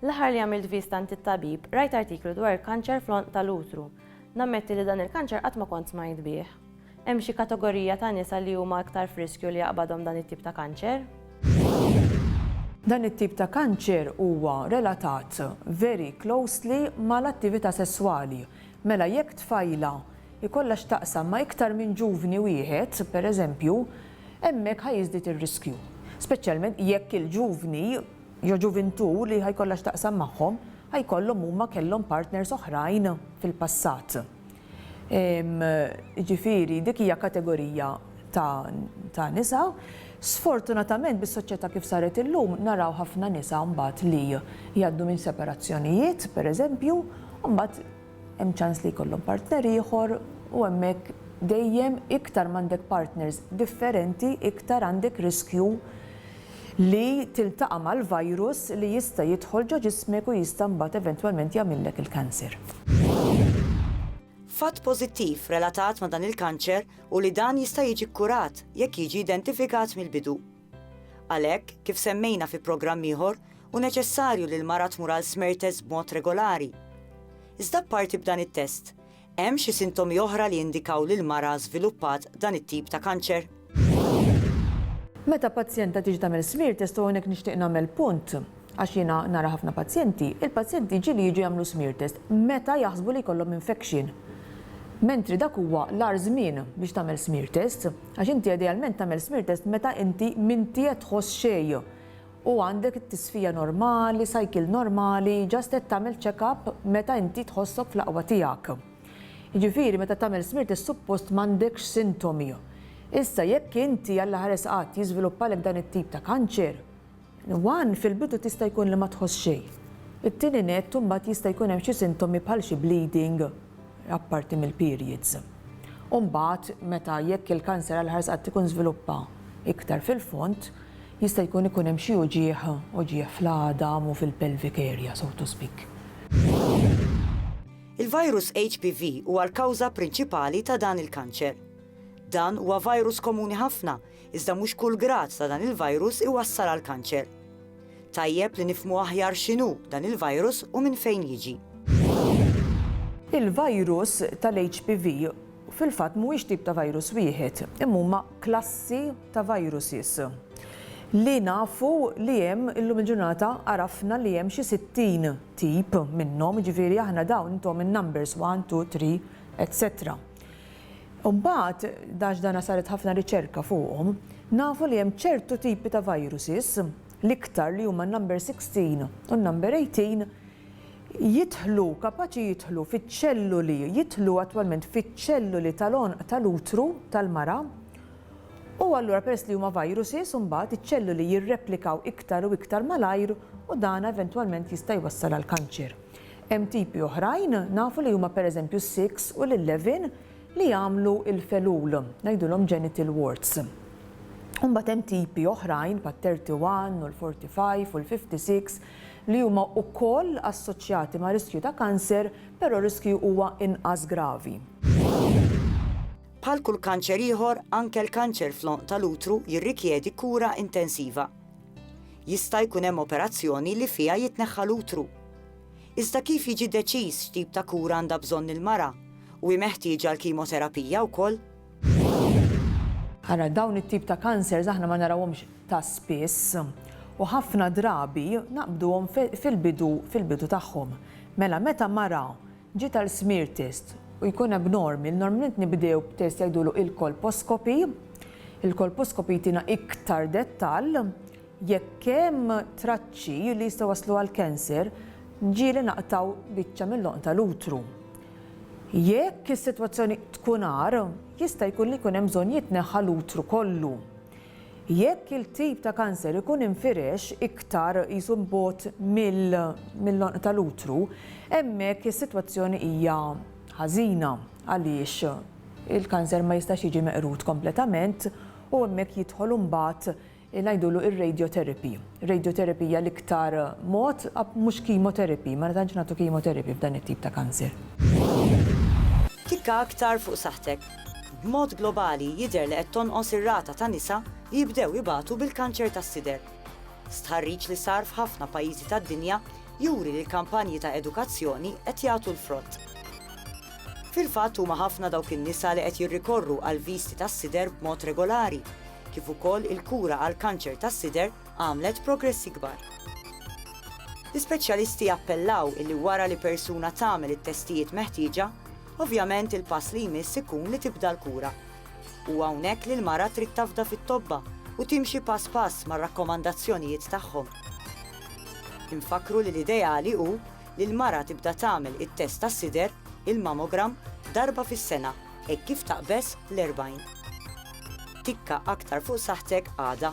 L-aħħar li għamilt viżta għand it-tabib, rajt artiklu dwar il-kanċer fl-għonq tal-utru. Nammetti li dan il-kanċer qatt ma kont smajt bih. Hemm xi katogorija ta' nisa li huma iktar f'riskju li jaqbadhom dan it-tip ta' kanċer? Dan it-tip ta' kanċer huwa relatat very closely mal-attività sesswali. Mela jekk tfajla jkollha x'taqsam ma' iktar minn ġuvni wieħed, pereżempju, hemmhekk ħa jiżdied ir-riskju. Speċjalment jekk il-ġuvni jew ġuvintù li ħa jkollha x'taqsam magħhom, ħa jkollhom huma kellhom partners oħrajn fil-passat. Jiġifieri dik hija kategorija ta' ta' nisa. Sfortunatament bis-soċjetà kif saret illum naraw ħafna nisa mbagħad li jgħaddu minn separazzjonijiet, pereżempju, u mbagħad Hemm ċans li jkollhom partner ieħor u hemmhekk dejjem iktar m'għandek partners differenti iktar għandek riskju li tiltaqa' mal-virus li jista' jidħol ġo ġismek u jista' mbagħad eventwalment jagħmillek il-cancer. Fatt pożittiv relatat ma' dan il-kanċer hu li dan jista' jiġi kkurat jekk jiġi identifikat mill-bidu. Għalhekk, kif semmejna fi programm ieħor, hu neċessarju li l-mara tmur għal smear test b'mod regolari. Iżda apparti b'dan it-test, hemm xi sintomi oħra li jindikaw li l-mara żviluppat dan it-tip ta' kanċer? Meta pazjenta tiġi tagħmel smear test u hawnhekk nixtieq nagħmel punt, Għax jiena nara ħafna pazjenti, il-pazjenti ġieli jiġu jagħmlu smear test meta jaħsbu li jkollhom infection. Mentri dak huwa l-agħar żmien biex tagħmel smear test, għax inti idealment tagħmel smear test meta inti m'inti qed tħoss xejn u għandek it-tisfija normali, cycle normali, just qed tagħmel check up meta inti tħossok fl-aqwa tiegħek. Jiġifieri meta tagħmel smear test suppost m'għandekx sintomi. Issa jekk inti Alla ħares qatt jiżviluppalek dan it-tip ta' kanċer, One, Fil-bidu tista' jkun li ma tħoss xejn. It-tieni nett, imbagħad jista' jkun hemm xi sintomi bħal xi bleeding, apparti mill-periods. U mbagħad meta jekk il-kanser għall-ħars qatt ikun żviluppa iktar fil-fond, jista' jkun ikun hemm xi uġigħ, uġigħ fl-għadam u fil-pelvic area, so to speak. Il-virus HPV huwa l-kawża prinċipali ta' dan il-kanċer. Dan huwa virus komuni ħafna Iżda mhux kull grad ta' dan il-virus iwassal għall-kanċer. Tajjeb li nifhmu aħjar x'inhu dan il-virus u minn fejn jiġi. Il-virus tal-HPV fil-fatt mhuwiex tip ta' virus wieħed, imma huma klassi ta' viruses li nafu li hemm illum il-ġurnata għarafna li hemm xi 60 tip minnhom, jiġifieri aħna dawn intom in-numbers one, two, three, etc. Imbagħad, għax dan saret ħafna riċerka fuqhom, nafu li hemm ċertu tipi ta' viruses, l-iktar li huma n-number 16 u n-number 18, jidħlu, kapaċi jidħlu fiċ-ċelluli, jidħlu attwalment fiċ-ċelluli tal-għonq tal-utru tal-mara, u allura peress li huma viruses imbagħad iċ-ċelluli jirreplikaw iktar u iktar malajr u dan eventwalment jista' jwassal għall-kanċer. Hemm tipi oħrajn, nafu li huma pereżempju s-six u l-eleven, li jagħmlu l-felul, ngħidulhom genital warts. U mbagħad hemm tipi oħrajn bħat-thirty one u l-forty five u l-fifty six li huma wkoll assoċjati ma' riskju ta' kanser, però r-riskju huwa inqas gravi. Bħal kull kanċer ieħor, anke l-kanċer fl-għonq tal-utru jirrikjedi kura intensiva. Jista' jkun hemm operazzjoni li fiha jitneħħa l-utru. Iżda kif jiġi deċiż x'tip ta' kura għandha bżonn il-mara u hi meħtieġa l-kimoterapija wkoll? Ara, dawn it-tip ta' kansers aħna ma narawhomx ta' spiss u ħafna drabi naqbduhom fil-bidu fil-bidu tagħhom. Mela meta mara Ġiet għal smear test u jkun hemm normi. Normalment nibdew b'test jgħidulu il-colposcopy. Il-colposcopy jtina iktar dettall jekk hemm traċċi li jistgħu jwasslu għal cancer, ġieli naqtgħu biċċa mill-għonq tal-utru. Jekk is-sitwazzjoni tkun agħar, jista' jkun li jkun hemm bżonn jitneħħa l-utru kollu. Jekk il-tip ta' kanser ikun infirex iktar qisu 'l bogħod mill-għonq tal-utru, hemmhekk is-sitwazzjoni hija ħażina għaliex il-kanser ma jistax jiġi meqrud kompletament u hemmhekk jidħol imbagħad ngħidulu r-radiotherapy. Radiotherapy hija l-iktar mod, mhux chemotherapy, ma tantx nagħtu chemotherapy f'dan it-tip ta' kanser. Klikka aktar fuq saħħtek. B'mod globali jidher li qed tonqos ir-rata ta' nisa li jibdew ibatu bil-kanċer tas-sider. Stħarriġ li sar f'ħafna pajjiżi tad-dinja juri li l-kampanji ta' edukazzjoni qed jagħtu l-frott. Fil-fatt huma ħafna dawk in-nisa li qed jirrikorru għall-viżti tas-sider b'mod regolari, kif ukoll il-kura għall-kanċer tas-sider għamlet progressi kbar. L-ispeċjalisti jappellaw illi wara li persuna tagħmel it-testijiet meħtieġa, Ovvjament il-pass li jmiss ikun li tibda l-kura. Huwa hawnhekk li l-mara trid tafda fit-tobba u timxi pass pass mar-rakkomandazzjonijiet tagħhom. Infakkru li l-ideali hu li l-mara tibda tagħmel it-test tas-sider, il-mammogram, darba fis-sena hekk kif taqbeż l-40. Tikka aktar fuq saħħtek għada.